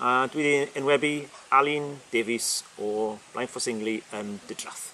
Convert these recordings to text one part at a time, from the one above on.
A dwi 'di enwebu Alun Davies o Blaenffosingli yn Didrath.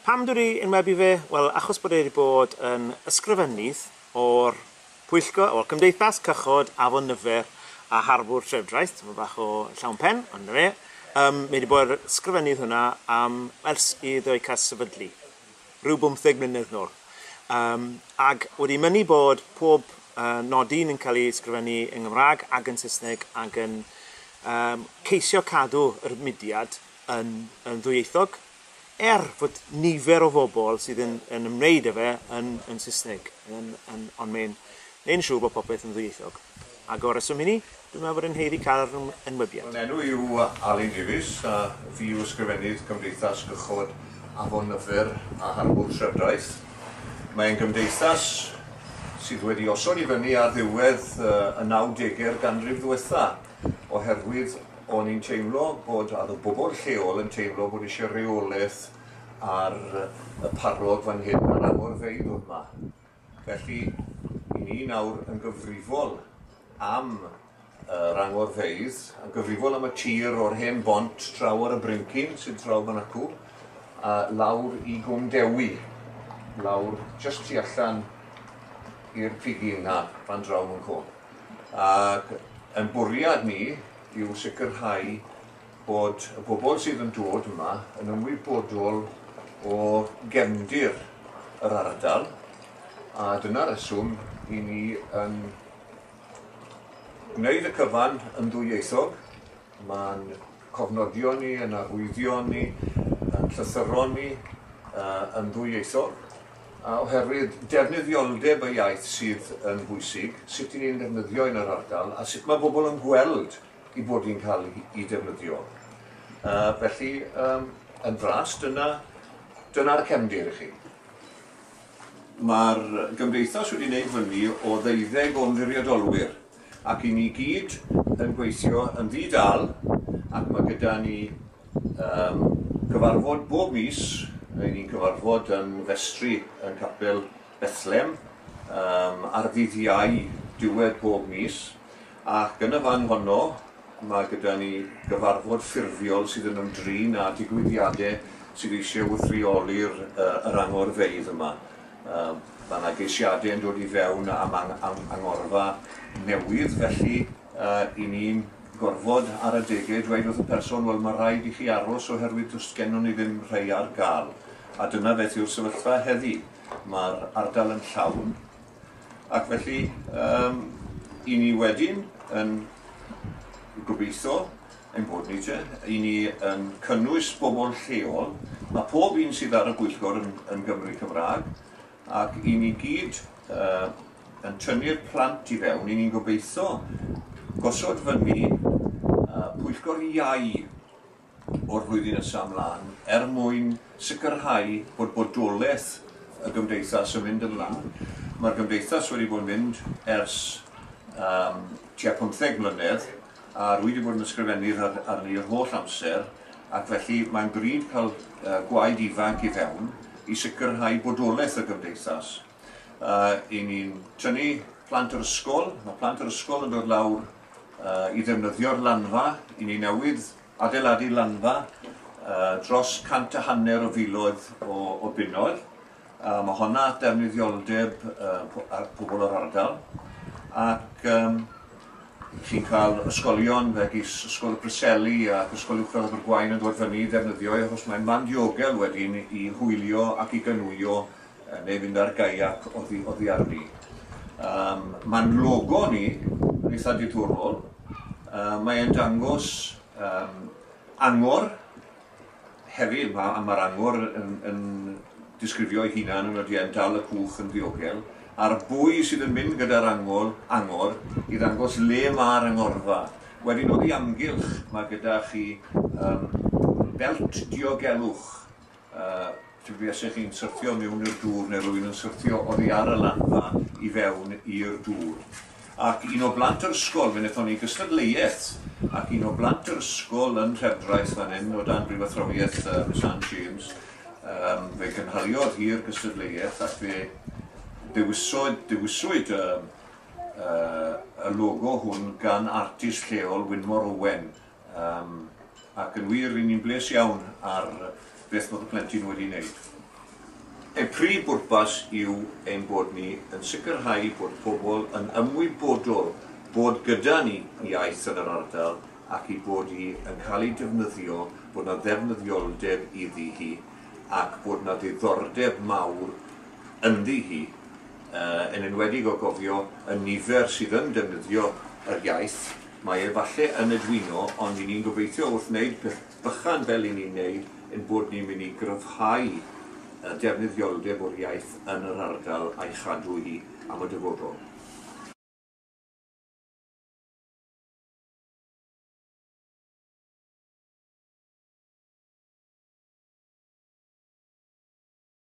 Pam dwi 'di enwebu fe? Wel, achos bod e 'di bod yn ysgrifennydd o'r pwyllgor, o'r Cymdeithas Cychod Afon Nyfer a Harbwr Trefdraeth, tyma bach o llawn pen, ond 'na fe. Um, mae wedi bod yn ysgrifennydd hwnna am ers iddo ei cael sefydlu. rhyw bymtheg mlynedd nôl. Yym, ac wedi mynnu bod pob yy nodyn yn cael ei ysgrifennu yng Nghymraeg ac yn Saesneg ac yn yym ceisio cadw yr mudiad yn yn ddwyieithog, er fod nifer o fobl sydd yn yn ymwneud â fe yn yn Saesneg, yn yn ond mae'n neud yn siŵr bod popeth yn ddwyieithog. Ac o'r rheswm hynny, dwi'n meddwl fod e'n haeddu cael yr enwebiad. Fy enw i yw Alun Davies a fi yw Ysgrifennydd Cymdeithas Cychod Afon Nyffur a Harbwr Trefdraeth. Mae'n gymdeithas sydd wedi osod i fyny ar ddiwedd y nawdegau'r ganrif ddiwetha' oherwydd o'n i'n teimlo bod, a o'dd y bobl lleol yn teimlo bod isie reolaeth ar y parog fan hyn ar agorfeydd o'dd 'ma. Felly, i ni nawr yn gyfrifol am yr angorfeydd, yn gyfrifol am y tir o'r hen bont draw ar y brincyn sydd draw fan acw, a lawr i Gwm Dewi, lawr just tu allan i'r pigyn na, fan draw yn cwm. Ac yn bwriad ni yw sicrhau bod y bobl sydd yn dod yma yn ymwybodol o gefndir yr ardal a dyna reswm i ni yn gwneud y cyfan yn ddwyieithog. Mae'n cofnodion ni, yn arwyddion ni, yn llythyron ni, uh, yn ddwyieithog, a oherwydd defnyddioldeb y iaith sydd yn bwysig, sut i ni'n defnyddio yn yr ardal a sut mae bobl yn gweld i fod yn cael ei defnyddio. Uh, felly, um, yn fras, dyna'r dyna cefndir i chi. Mae'r gymdeithas wedi gwneud fyny o ddeuddeg o'n fwriadolwyr ac i ni gyd yn gweithio yn ddi-dal ac mae gyda ni um, cyfarfod bob mis, i ni'n cyfarfod yn festri yn capel Bethlem um, ar ddydd iau diwedd bob mis Ac yn y fan honno, mae gyda ni gyfarfod ffurfiol sydd yn ymdrin â digwyddiadau sydd eisiau wrth-reoli'r yr angorfeydd yma. Yym, mae 'na geisiadau yn dod i fewn am ang- am angorfa newydd, felly yy 'yn ni'n gorfod ar adegau dweud wrth y person, wel, ma' rhaid i chi aros oherwydd does gennon ni ddim rhei ar ga'l. A dyna beth yw'r sefyllfa heddi. Ma'r ardal yn llawn. Ac felly, um, i ni wedyn yn gobeithio ein bod ni te, i ni yn cynnwys bobl lleol, a pob un sydd ar y bwyllgor yn, yn Gymru Cymraeg, ac i ni gyd uh, yn tynnu'r plant i fewn, i ni'n gobeithio gosod fyny uh, pwyllgor iau o'r flwyddyn nesaf ymlaen er mwyn sicrhau bod bodolaeth y Gymdeithas yn mynd ymlaen. Mae'r Gymdeithas wedi bod yn mynd ers um, tua 15 mlynedd a rwy wedi bod yn ysgrifennu'r ar, arni yr holl amser ac felly mae'n bryd cael uh, gwaed ifanc i fewn i sicrhau bodolaeth y Gymdeithas. Uh, I ni'n tynnu plant yr ysgol, mae plant yr ysgol yn dod lawr i ddefnyddio'r lanfa i ni newydd adeiladu lanfa dros cant a hanner o filoedd o bunnoedd. Mae honna at ddefnyddioldeb pobl o'r ardal ac chi'n cael ysgolion megis Ysgol y Preseli ac Ysgol Uwchradd Abergwaun yn dod fyny i ddefnyddio e achos mae'n man diogel wedyn i hwylio ac i ganwyo neu fynd ar gaiac oddi oddi arni. Yym ma'n logo ni yn eitha diddorol. Yy mae e'n dangos yym angor hefyd ma' a ma'r angor yn yn disgrifio ei hunan yn odi e'n dal y cwch yn ddiogel a'r bwy sydd yn mynd gyda'r angol angor i ddangos le ma'r angorfa. Wedyn oddi amgylch ma' gyda chi yym belt diogelwch Yy dw i as i chi'n syrthio miwn i'r dŵr neu rwy'n yn syrthio oddi ar y lanfa i fewn i'r dŵr. Ac un o blant yr ysgol, fe nethon ni gystadleuaeth, ac un o blant yr ysgol yn Nhredraeth fan hyn, o dan brifathrawiaeth yy Miss Ann James, yym fe gynhaliodd hi'r gystadleuaeth ac fe ddewisodd, dewiswyd y yy y logo hwn gan artist lleol, Wynmor Owen, Um, ac yn wir, ry'n ni'n bles iawn ar beth bod y plentyn wedi wneud. Ein prif bwrpas yw ein bod ni yn sicrhau bod pobl yn ymwybodol bod gyda ni iaith yn yr ardal ac i bod hi yn cael ei defnyddio, bod yna ddefnyddioldeb iddi hi ac bod yna ddiddordeb mawr ynddi hi, uh, yn enwedig o gofio y nifer sydd yn defnyddio yr iaith. Mae e falle yn y dwyno ond i ni'n gobeithio wrth wneud peth bychan fel i ni'n neud ein bod ni'n mynd i gryfhau y defnyddioldeb o'r iaith yn yr ardal a'i chadw hi am y dyfodol.